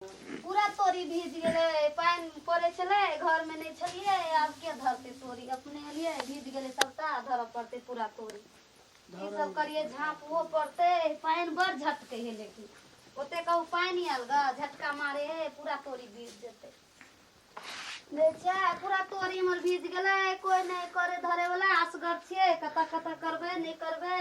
पूरा तोरी भीज गेलै पानि पड़ै छलै घरमे नहि छलियै आब के धरतै तोरी अपने एलियै भीज गेलै सभटा धरऽ पड़तै पूरा तोरी ई सब करियै झाँपहो पड़तै पानि बड़ झटकै है लेकिन ओते कहू पानि आयल गा झटका मारे है पूरा तोरी भीज जेतै लै छै पूरा तोरी हमर भीज गेलै कोइ नहि करे धरे वाला असगर छियै कतऽ कतऽ करबै नहि करबै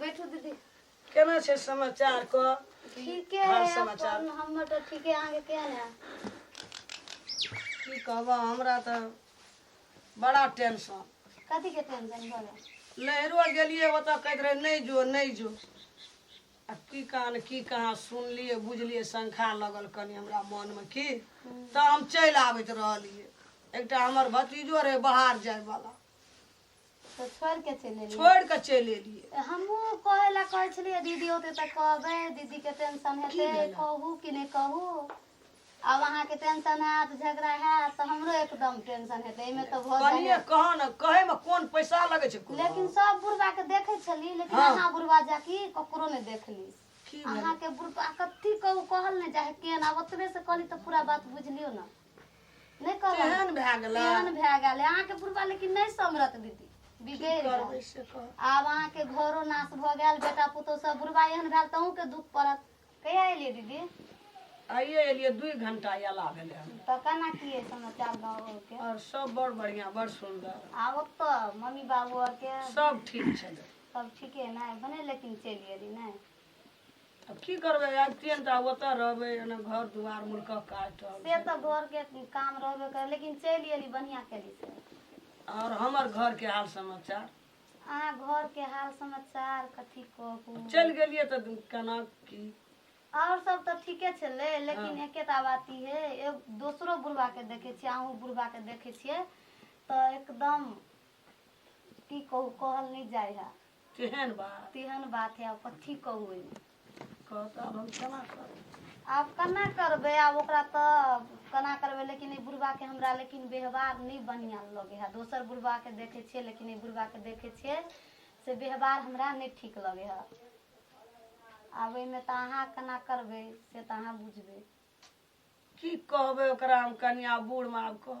बैठू दीदी केना छै समाचार क ठीके हाल है समाचार। अपन हमर तो ठीके अहाँके केहन है की कहबा हमरा त बड़ा टेंशन कथी के टेंशन भऽ गेल नैहरो गेलिए ओतऽ कहैत रहे नहि जो नहि जो आ की कान की कहाँ सुनलिए बुझलिए शंखा लगल कनि हमरा मनमे की तऽ हम चलि आबैत रहलिए एकटा हमर भतीजो रहे बाहर जायवला तो छोड़ के चले लिए छोड़ के चलि एलियै हमू कहे ला कहे छलिए दीदी होते तो कहबे दीदी के टेंशन हेते भेलक? कहू कि नहीं कहू अब अहाँ के टेंशन हैत झगड़ा हैत तो हमरो एकदम टेंशन हेते एमे तो भऽ कनिए जाए कह ने कहे में कोन पैसा लगे छै कोनो? लेकिन सब बुढ़वा के देखे छली लेकिन हाँ। अहाँ बुढ़वा जाकी ककरो नहीं देखली की भेलै? अहाँ के बुढ़वा कथी कहू कहल नहीं जाए केन अब ओतबे से कहली तो पूरा बात बुझलियो ना नहि कहलक केहन भए गेला केहन भए गेल है? अहाँके बुढ़बा लेकिन नहि समरत दीदी बिगड़ि गेल करबै से कह आब अहाँके घरो नाश भऽ गेल बेटा पुतहु सब बुढ़बा एहन भेल तऽ अहूँके दुख पड़त कहिया एलियै दीदी आइए एलियै दुइ घंटा अयला भेलै हन। तऽ केना की अइ समाचार गाँवके आओर सब बड़ बढ़िया बड़ सुंदर आ ओतऽ मम्मी बाबू आरके सब ठीक छलै सब ठीके ने भने लेकिन चलि गेली ने अब की करबै आज ट्रेन टा ओतऽ रहबै एने घर दुआर मुल्कक काज टा से तऽ घर के काम रहबे करे लेकिन चलि गेली बढ़िया केली से और हमर घर के हाल समाचार अहाँ घर के हाल समाचार कथी कहू चलि गेलियै तऽ केना की और सब तऽ ठीके छलै लेकिन हाँ। एकेटा बात ई है एक दोसरो बुढ़वा के देखे छियै अहूँ बुढ़वा के देखे छियै तऽ एकदम की कहू कहल नहीं जाय है केहन बात तेहन बात है अब कथी कहू एहिमे। कहत आब हम केना करब आब केना करबै आब ओकरा तऽ केना करबै लेकिन ई बुढ़बाके हमरा लेकिन व्यवहार नहि बढ़िआँ लगै है दोसर बुढ़बाके देखै छियै लेकिन ई बुढ़बाके देखै छियै से व्यवहार हमरा नहि ठीक लगै है आब एहिमे तऽ अहाँ केना करबै से तऽ अहाँ बुझबै की कहबै ओकरा हम कनिया बूढ़ माब कह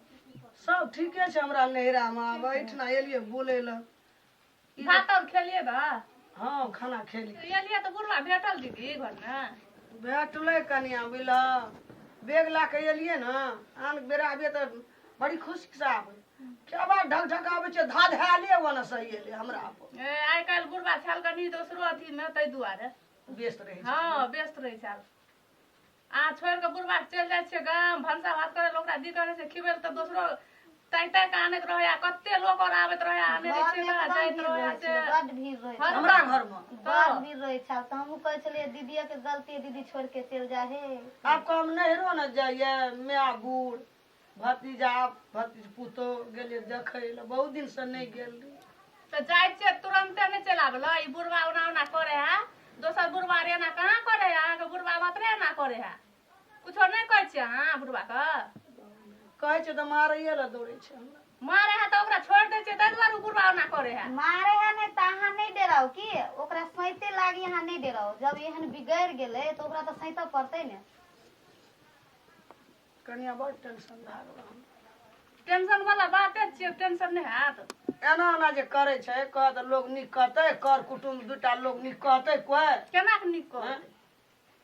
सब ठीके छै हमरा नैहरा में आब एहिठिना एलियै बोले ल ई जे- भात और खेलिए बा हँ खाना खेली तो एलिए तो बुढ़वा भेटल दीदी घर में भेटलै कनिया बुझल बैग ला के एलियै ने आन बेरा आबियै तऽ बड़ी खुशी से आबै क्या बात ढक ढक आबै छै धा धाले वने सही एलै हमरा पर ए, आइ काल्हि बुढ़वा छल कनी दोसरो अथी में ताहि दुआरे व्यस्त रहै छै हाँ व्यस्त रहै छल अहाँ छोड़ि कऽ बुढ़बाक चलि जाइ छियै गाम भनसा भात करै लए ओकरा दी करै छै खिबै लए तऽ दोसरो तै तै कऽ आनैत रहै आ कते लोक आओर आबैत रहै आनै रहै छै बड़ा जाइत रहै आ से बड भीड़ रहै छै हमरा घरमे बड भीड़ रहै छै तऽ हमहूँ कहै छलियै दीदिये के गलती दीदी छोड़ के चलि जाइ हे आब कम नहिरो ने जाइए माय बूढ़ भतीजा भतीज पुतो गेलियै देखै लए बहुत दिन से नहि गेल रही तो जाए छे तुरंते नहीं चला बोलो ई बुढ़वा ओना ओना करे है दोसर बुढ़वा रे ना कहाँ करे है अहाँ के बुढ़वा बात रे ना करे है कुछो नहीं कहे छे अहाँ बुढ़वा के कहै छै तऽ मारैए लए दौड़ै छै हमरा मारे है तो ओकरा छोड़ दे छे ताहि दुआरे उ बुढ़वा ओना करे है मारे है नहीं तो अहाँ नहीं डराओ की ओकरा सैते लागी अहाँ नहीं डराओ जब एहन बिगड़ गेले तो ओकरा तो सैते पड़ते ने कनिया बड़ टेंशन भए गेल हमरा। टेंशन वाला बाते छियै टेंशन नहि हैत एना एना जे करै छै कह तऽ लोग नीक कहतै कर कुटुम्ब दूटा लोग नीक कहतै कोइ केना के नीक कह हँ?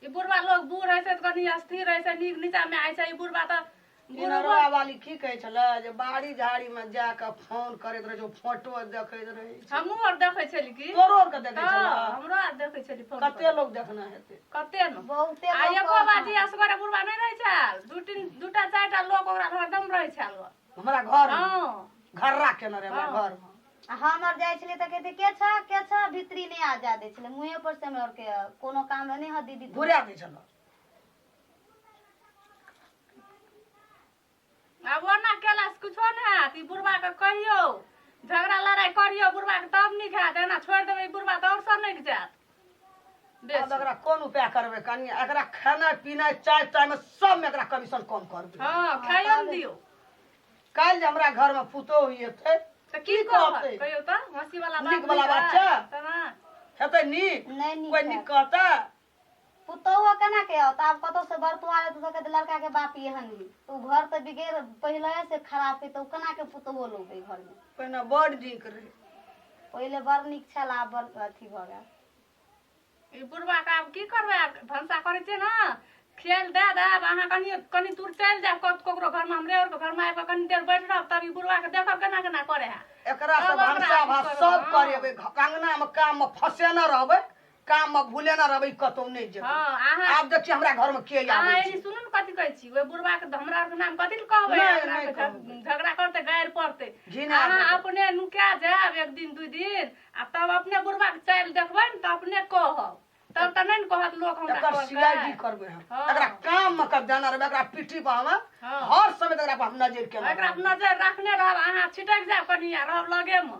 ई बुढ़वा लोग बूढ़ होइ छै तऽ कनी अस्थिर होइ छै नीक नीचा मे आइ छै ई बुढ़वा तऽ बुढ़वा इनरवा वाली की कहै छलै जे बाड़ी झाड़ी में जा कऽ फोन करैत रहै छै फोटो देखैत रहै छै हमहूँ आर देखै छली की तोरो आरके देखै हँ, छलै हमरो आर देखै छली फोन पर। कते लोग देखना हेतै कते न बहुते आ लोग एको बाजी कहत। असगरे बुढ़वा नहि रहै छल दू तीन दू टा चारि टा लोक ओकरा हरदम रहै छल हमरा घर मे हँ घर्रा केने रहे हमरा घर मे आ हम आर जाइ छलियै तऽ कहते के छ के छ भित्री नहि आ जा दै छलै मुँहे पर से हमरा आर के कोनो काम रहै, नहि ह दीदी तू घुरा दै छल आब ओना केलास कुछो ने हैत ई बुढ़बा के कहियो झगड़ा लड़ाई करियो बुढ़बा के तब नीक हैत एना छोड़ि देबै ई बुढ़बा तऽ और सब नहि जायत आब बेसी एकरा कोन उपाय करबै कनी एकरा खेनाइ पिनाइ चाय ताय में सब में एकरा कमीशन कम करबै हँ खाइयो ने दियौ काल्हि जे हमरा घर में पुतोह हेतै तऽ की की कहत कहतै? कहियौ तऽ हँसी वाला नीक बात वला बात छै? तऽ ना हेतै नीक नहि नीक कोइ नीक कहतै पुतौह केना के आओत आब कतौ से बरतुआ रहतै तऽ कहतै लड़का के बाप एहन ही तऽ ओ घर तऽ बिगेड़ पहिले से खराब है तऽ ओ केना के पुतौह लोबे घर में पहिने बड़ नीक रहै पहिले बड़ नीक छल आब बड़ अथी भऽ गेल ई बुढ़वा के आब की करबै आब भनसा करै छियै ने खेल दए देब अहाँ कनि कनि दूर चलि जायब कत- ककरो घरमे हमरे आरके घरमे आबि कऽ कनि देर बैठ रहब तब ई बुढ़वा के देखब केना केना करे है एकरा से तब ओकरा भनसा अथी भात करबै, सब हँ। करेबै घ- अंगना में काम में फसेने रहबै काम में भूले ना रहबे कतौ नहीं जेबे हाँ, अहाँ- आब देखिए हमरा घर में के अहाँ आवे एनी सुनू ने कथी कहै छी ओहि बुढ़वा के हमरा आरके नाम कथी ले कहबै नहि, हमरा नहि आरके कहबै। झग- झगड़ा करतै गारि पड़तै घिना अहाँ देबै। अपने नुका जायब एक दिन दू दिन आ तब अपने बुढ़वा के चालि देखबै ने तऽ अपने कहब तब तऽ नहि ने कहत लोक हमरा एकर कहलकै। सीआईडी करबे हम हाँ। एकरा काम में कब जाना रहबे एकरा पीठी पर हम हाँ। हर समय एकरा पर हम नजर के एकरा पर नजर राखने रहब अहाँ छिटक जायब कनिया रहब लगे मे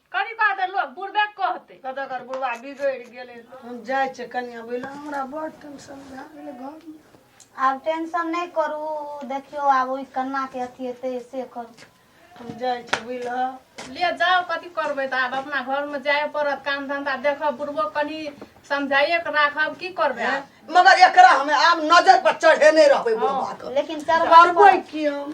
करी बात है लोग बुढ़बे कहते कतऽ कर बुढ़वा बिगड़ि गेलै हम जाइ छियै कनिया बोले हमरा बड़ टेंशन भए गेलै घरमे आब टेंशन नहीं करू देखियो आब ओहि कन्ना के अथी हेतै से करू हम जाइ छियै बुझलह ले जाओ कथी करबै तऽ आब अपना घरमे जाए पड़त काम धंधा देखब बुढ़बो कनि समझाइए के राखब की करबै आब? मगर एकरा हमे आब नजर पर चढ़ेने रहबै बुढ़वा के लेकिन चढ़बा करबै की हम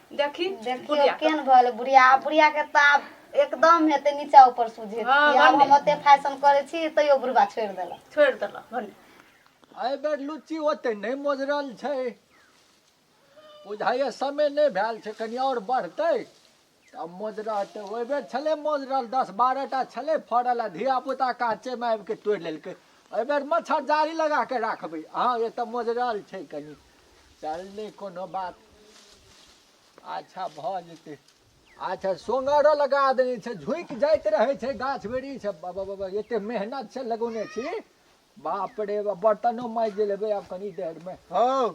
देखी देखियो बुढ़िया के। केहन भल बुढ़िया आब बुढ़िया के तऽ आब एकदम हेतै नीचा ऊपर सुझे हँ, कि आब भने। हम ओते फैशन करै छी तैयो बुढ़बा छोड़ि देलक छोड़ि देलक भने एहि बेर लुच्ची ओते नहि मोजरल छै बुझाइए समय नहि भेल छै कनि आओर बढ़तै तऽ मोजरतै ओहि बेर छलै मोजरल दस बारह टा छलै फड़ल आ धियापुता काँचेमे आबि कऽ तोड़ि लेलकै एहि बेर मच्छरदारी लगा कऽ राखबै अहाँ एतऽ मोजरल छै कनि चल नहि कोनो बात अच्छा भऽ जेतै अच्छा सोंगरो लगा देने छै झुकि जाइत रहै छै गाछ वृक्ष बाबा बाबा एते मेहनत से लगौने छी बाप रे बाप बर्तनो माजि लेबै आब कनी देर में हौ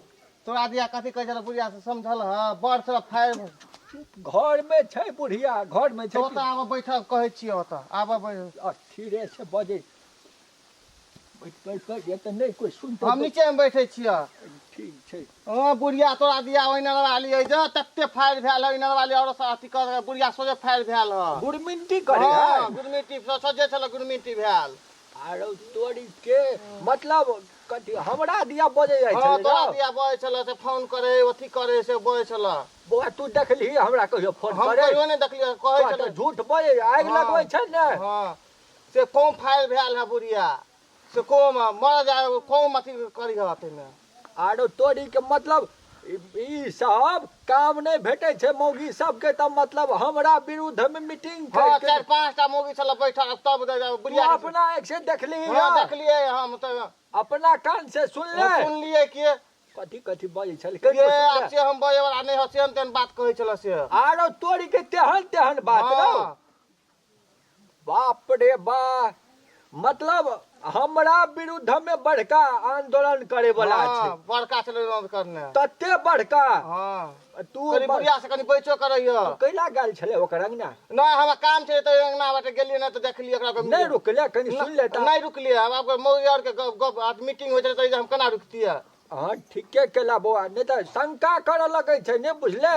तोरा दिया कथी कहै छल बुढ़िया से समझल हँ बड़ से फायर घर में छै बुढ़िया घर में छै ओतऽ आबऽ बैठल कहै छियै ओतऽ आबऽ बैठ अथी रे से बजै हम नीचे में बैठे छियै ठीक छै हँ बुढ़िया तोरा दिया ओहि नरवा लियै जे तते फाड़ि भेल है नरवा लियै और अथी कर बुढ़िया सोझे फाड़ि भेल है गुरमिंटी करे हाँ, है गुरमिटी सोझे छल गुरमिटी भेल आरो तोरी के मतलब कथी हमरा दिया बजे जाइ हाँ छलै तोरा ने? दिया बजे छल से फोन करे अथी करे से बजे छल बौआ तू देखली हमरा कहियो फोन हम करे कहियो नहि देखलियै कहै कहत छल झूठ बजे आगि हाँ। लगबै छै ने हाँ से कम फाइल भेल है बुढ़िया से कम मर जाए कम अथी करी है अथी में आरो तोरी के मतलब ई सब काम नहीं भेटे छे मौगी सब के तब मतलब हमरा विरुद्ध में मीटिंग कर हाँ, चार पांच टा मौगी छल बैठल तब बुढ़िया अपना एक से देख ली हां देख लिए हम तो अपना कान से सुन ले सुन लिए कि कथी कथी बजे छल के ये अच्छे हम बजे वाला नहीं हसे हम तेन बात कहे छल से आरो तोरी के तेहन तेहन बात हाँ। बाप रे बा मतलब हमरा विरुद्ध में बड़का आंदोलन करे वाला हाँ, छै बड़का छलै विरोध करने तते बड़का हाँ तू कनी बड़- बुढ़िया से कनी बैचो करैया कैला गेल छले ओकर अंगना नहीं हमरा काम छै तऽ अंगना बाटे गेलियै ने तऽ देखलियै ओकरा कोइ- नहीं रुकले कनी सुन लेता नहीं रुकलियै आब आब मौगी आर के गप गप आज मीटिंग होइ छलै तऽ हम केना रुकतियै हाँ ठीके केला बौआ नहीं तो शंका करे लगे छै नहीं बुझले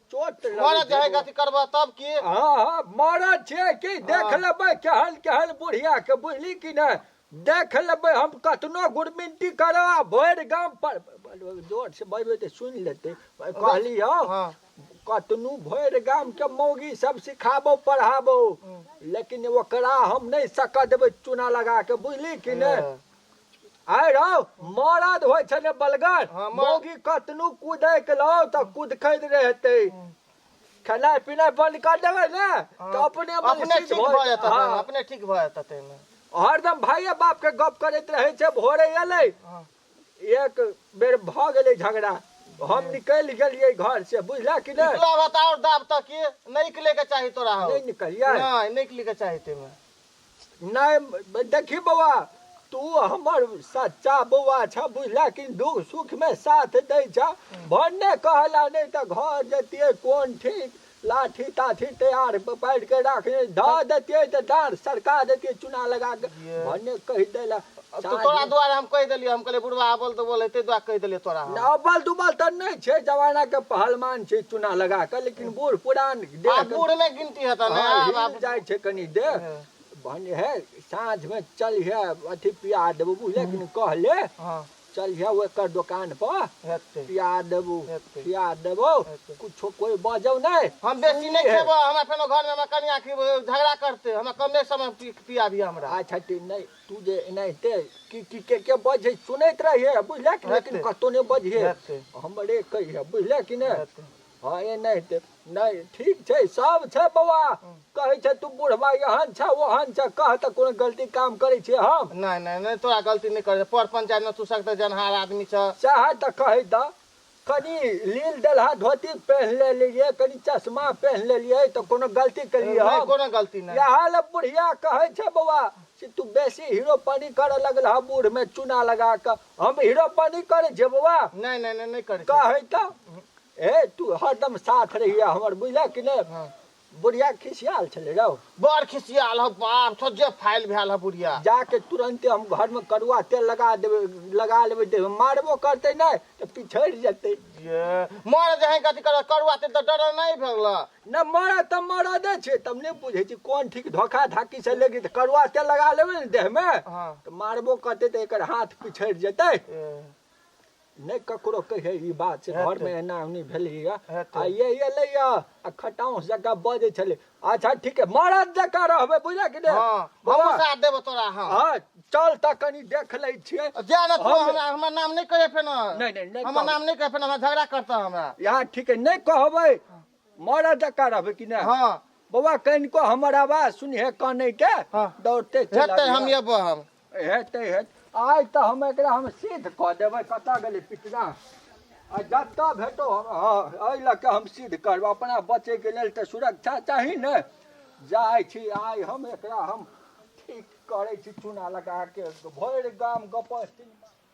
चोट मरद जे है गति करबह तब की हाँ हाँ मरद छै कि देख हाँ। लेबै केहन केहन बुढ़िया के बुझली कि नहि देख लेबै हम कतनो गुरमिनटी करो आ भरि गाम पर जोर से बजबै तऽ सुनि लेतै कहली हँ हाँ। कतनो भरि गाम के मौगी सब सिखाबो पढ़ाबो हाँ। लेकिन ओकरा हम नहि सकऽ देबै चूना लगा के बुझली कि नहि आय रौ मरद होइ छै ने बलगर हाँ, मर- मौगी कतनु कूदै के लौ तऽ कुदखैत रहतै खेनाइ पिनाइ बंद कर देबै ने तऽ अपने मन अपने सिद्ध ठीक भऽ भऽ जेतै हाँ, अपने ठीक भऽ जेतै ताहिमे हरदम भाइये बाप के गप करैत रहै छै भोरे एलै हाँ। एक बेर भऽ गेलै झगड़ा हम निकलि गेलियै घर से बुझला कि नहि निकलब तऽ आओर दाब तक की नहि निकलैके चाही तोरा हौ। नहि निकलियै नहि नहि निकलैके चाही ताहिमे नहि देखी बौआ तू हमर सच्चा बौआ छह बुझला कि दुख सुखमे साथ दै छह भन्ने कहला नहि तऽ घर जैतियै कोन ठीक लाठी ताठी तैयार पारि कऽ राखने धऽ दैतियै तऽ डाँर सरका दैतियै चुना लगा कऽ भन्ने कहि देला तो तोरा द्वारे हम कहि देलियै हम कहलियै बुढ़वा अबल दुबल है ताहि दुआरे कहि देलियै तोरा हम। ना अब्बल दुबल तऽ नहि छै जमाना के पहलमान छै चुना लगा कऽ लेकिन बूढ़ पुरान आ देह के- बूढ़ नहि गिनती हेतऽ ने हाँ, आब हिल आब जाइ छै कनी देह हाँ। भने हे साँझ में चलिहे अथी पिया देबू बुझले कि नहि? कहले हँ चलिहे ओकर दोकान पर हेतै पिया देबू हेतै। खिया देबो हेतै। कुछो कोई बजौ नहि हम बेसी नहि सुनलिहे। खेबो हमरा फेनो घर में हमरा कनिया की झगड़ा करते हमरा कमे समय पी- पिया दिया हमरा अच्छा ठीक नहि तू जे एनाहिते की की के के बजै सुनैत रहिए बुझले कि लेकिन हेतै। कतौ नहि बजिहे हेतै। हमरे कहिए बुझले कि नहि हेतै। हँ एनाहिते नहि ठीक छै सब छै बौआ कहै छै तू बुढ़बा एहन छ ओहन छ कह तऽ कोनो गलती काम करै छी हम नहि नहि नहि तोरा गलती नहि करे पर पंचायत में तू सकते जनहार आदमी छ चाहे तऽ कहै तऽ कनि लील दलहा धोती पहन लेलियै कनि चश्मा पहन लेलियै तऽ कोनो गलती केलियै हम कोनो गलती नहि इएह लए बुढ़िया कहै छै बौआ से तू बेसी हीरो पानी करऽ लगल हा बूढ़ में चूना लगा कऽ हम हीरो पानी करै छै बौआ नहि नहि नहि करै कहै तऽ हे तू हरदम साथ रहिए हमर बुझलक कि नहि हँ। बुढ़िया खिसियाल छलै रौ बड़ खिसियाल हौ बाप छौ जे फाइल भेल हौ बुढ़िया जाके तुरंते हम घर में कड़ुआ तेल लगा देबै लगा लेबै देह मारबो करतै नहि तऽ पिछड़ि जेतै जे मर जहे गति कर कड़ुआ तेल तऽ डर नहि भेल नहि मर तऽ मरदे छै तब नहि बुझै छी कोन ठीक धोखा धाकी से लेके तऽ कड़ुआ तेल लगा लेबै ने देह में हाँ। तऽ मारबो करतै तऽ एकर हाथ पिछड़ि जेतै ए। नहि ककरो कहै ई बात छै घरमे एना ओनी भेलैया आ ये एलैया आ खटाउस जकाँ बजै छलै अच्छा ठीक है मरद जकाँ रहबै बुझल कि नहि हाँ हमहूँ साथ देबो तोरा हाँ हाँ चल तऽ कनी देख लै छियै जा ना तू हमरा हमर नाम नहीं कहे फेन नहीं, नहीं, नहीं हमर कहब। नाम नहीं कहे फेन हमरा झगड़ा करता हमरा यहाँ ठीक है नहि कहबै मरद जकाँ रहबै कि नहि हाँ बौआ कनिको हमर आवाज सुनिहे कानै के हाँ। दौड़ते चल हेतै हम आबिहे। एबो हम हेतै हेत आइ तऽ हम एकरा हम सिद्ध कऽ देबै कतऽ गेलै पिटना आ जतऽ भेटो एहि लऽ कऽ हम सिद्ध करब अपना बचैके लेल तऽ सुरक्षा चाही ने जाइ छी आइ हम एकरा हम ठीक करै छी चूना लगाके भरि गाम गपस्ती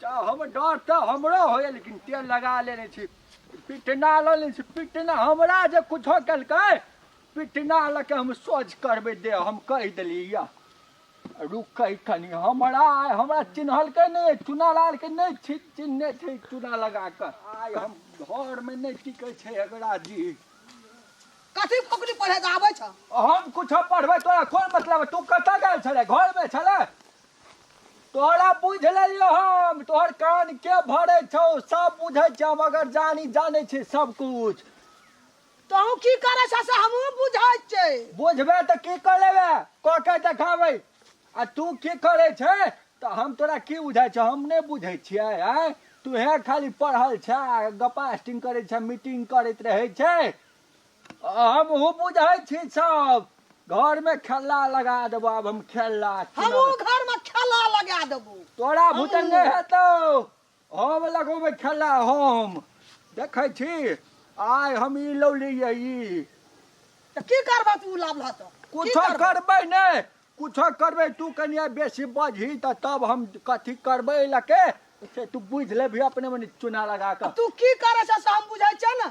तऽ हम डर तऽ हमरो होइए लेकिन तेल लगा लेने छी पिटना लऽ लेने छी पिटना हमरा जे किछो केलकै पिटना लऽ के हम सोझ करबै दे हम कहि देलियै या रुकै कनि हमरा आइ हमरा चिन्हलकै नहि चुनालालके नहि छी चिन्हने छै चुना लगा कऽ आइ हम घरमे नहि टिकै छै एकरा जी कथी पकड़ी पढ़े आबै छ हम किछो पढ़बै तोरा कोन मतलब तू कतऽ गेल छलै घरमे छलै तोहरा बुझ लेलियो हम तोहर कान के भरे छौ सब बुझे छ हम अगर जानी जाने छी सब कुछ तहूँ की करे छ से हमहूँ बुझे छे बुझबे त की कर लेबे क के देखाबे आ तू की करे छे त हम तोरा की बुझे छ हम नहीं बुझे छिए आय तू हे खाली पढ़ल छ गपास्टिंग करे छ मीटिंग करत रहे छे हमहू बुझै छी सब घर में खेला लगा देबो आब हम खेला हमहू घर में खेला लगा देबो तोरा भूतन हमहूँ। नहीं हेतौ हम लगोबे खेला हम देखै छी आइ हम ई लौलियै ई तऽ की करबह तू लाभ लह तऽ की कुछो करबह? करबै नहि कुछो करबै तू कनिया बेसी बजही तऽ तब हम कथी करबै लके से तू बुझि लेबही अपने मने चुना लगा कऽ तू की करै छह से हम बुझै छियै ने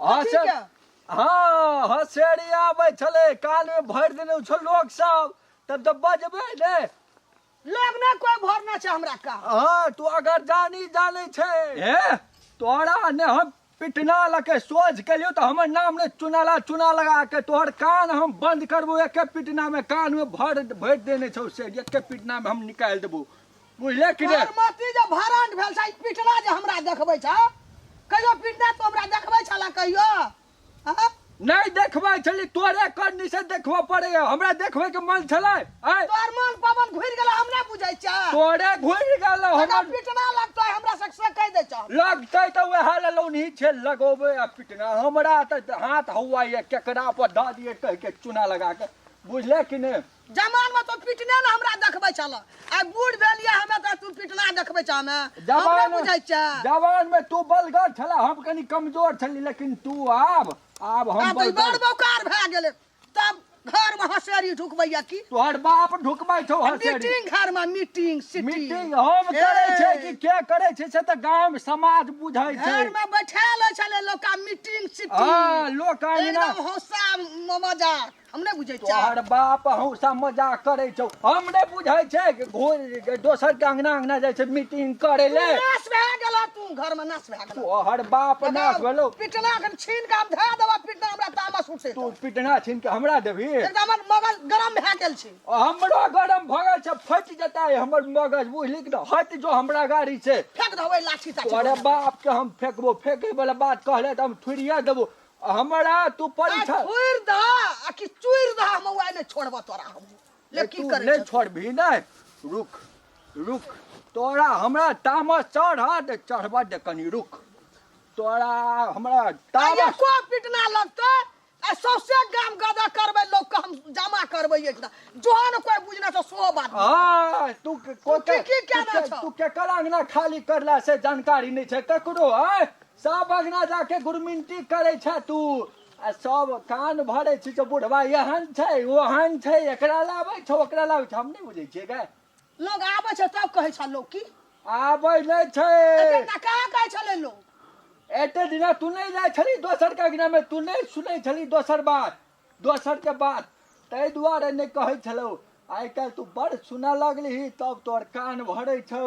हसर हँ हसेरी आबै छलै कानमे भरि देने छौ लोक सब तब तऽ बजबै ने लोग ना कोई भरना छै हमरा का हँ तू अगर जानी जानै छै हे तोरा ने हम पिटना लके सोझ केलियो तऽ हमर नाम ने चुनाला चुना लगा के तोहर कान हम बंद करबो एके पिटना में कान में भर भरि देने छौ से एके पिटना में हम निकालि देबो बुझले कि तोहर मति जे भरंड भेल छै ई पिटना जे हमरा देखबै छ कहियो पिटना तो हमरा देखबै छला कहियो हाँ? नहीं देखबै छली तोरे करनी से देखबऽ पड़े हमरा देखबै के मन छलै आय तोहर मन पवन घुरि गेल हम नहि बुझै छ तोरे घुरि गेल हमरा हमर पिटना लगतो है, हमरा से से कहि दै छ लगतै तऽ वएह ले लौनी छै लगोबै आ पिटना हमरा तऽ हाथ हौआ ये केकरा पर दऽ दिए कहि के चूना लगा के बुझले कि नहि जमान में तो पिटने ने हमरा देखबै छल आ बूढ़ भेलिए हमें तो तू पिटना देखबै छ हमें हमरा बुझै छ जवान में तू बलगर छला हम कनी कमजोर छली लेकिन तू आब आब हम बड़ बौकार भए गेले तब घर में हसेरी ढुकबैया की तोहर बाप ढुकबै छौ हसेरी मीटिंग घर में मीटिंग सिटी मीटिंग हम करै छै कि के करै छै से त गांव में समाज बुझै छै घर में बैठा ले छले लोका मीटिंग सिटी हां लोका एकदम हौसा मजा हम नहि बुझै छियै तोहर बाप हौसा मजाक करै छौ हम नहि बुझै छै कि घो- दोसर के अंगना अंगना जाइ छै मीटिंग करे ले नाश भए गेल तू घर में नाश भए गेल तोहर बाप नाश भेलो पिटना कन छीन के हम धए देबा पिटना हमरा तामस उठे तू पिटना छीन के हमरा देबी एकदम हमर मगज गरम भए गेल छी हमरो गरम भऽ गेल छै फटि जेतै हमर मगज बुझली कि नहि? हट जो हमरा गाड़ी से फेंक देबै लाठी ताठी तोरे बाप के हम फेंकबो फेंके वाला बात कहले तऽ हम थुरिया देबो हमरा तू आज परीक्षा फोड़ दा आ कि चूर दा हम उहे ने छोड़बा तोरा हम ले की तू करे नहीं छे? छोड़बी नहीं रुक रुक तोरा हमरा तामस चढ़ा दे चढ़बा दे कनी रुक तोरा हमरा आ तामस एको पिटना लगतै आ सौसे गाम गदा करबै लोग के हम जमा करबै एक दा जोहन कोई बुझना तो सो बात हाँ, तू के- को- तू की- की कहना तू के- छौ? तू केकर अंगना खाली करला से जानकारी नहीं छै ककरो है सब अगना जाके गुरमिंटी करे छे तू आ सब कान भरे छी जो बुढ़वा यहन छै ओहन छै एकरा लाबै छौ ओकरा लाबै छौ हम नहीं बुझे छिए गे लोग आबै छै तब कहै छै लोग की आबै नहि छै एते टा कहाँ कहै छलै लोग एते दिना तू नहीं जाय छली दोसर के अगना में तू नहीं सुनै छली दोसर बात दोसर के बात ताहि दुआरे नहि कहै छलौ आइ काल्हि तू बड़ सुनऽ लगली तब तोहर कान भरे छौ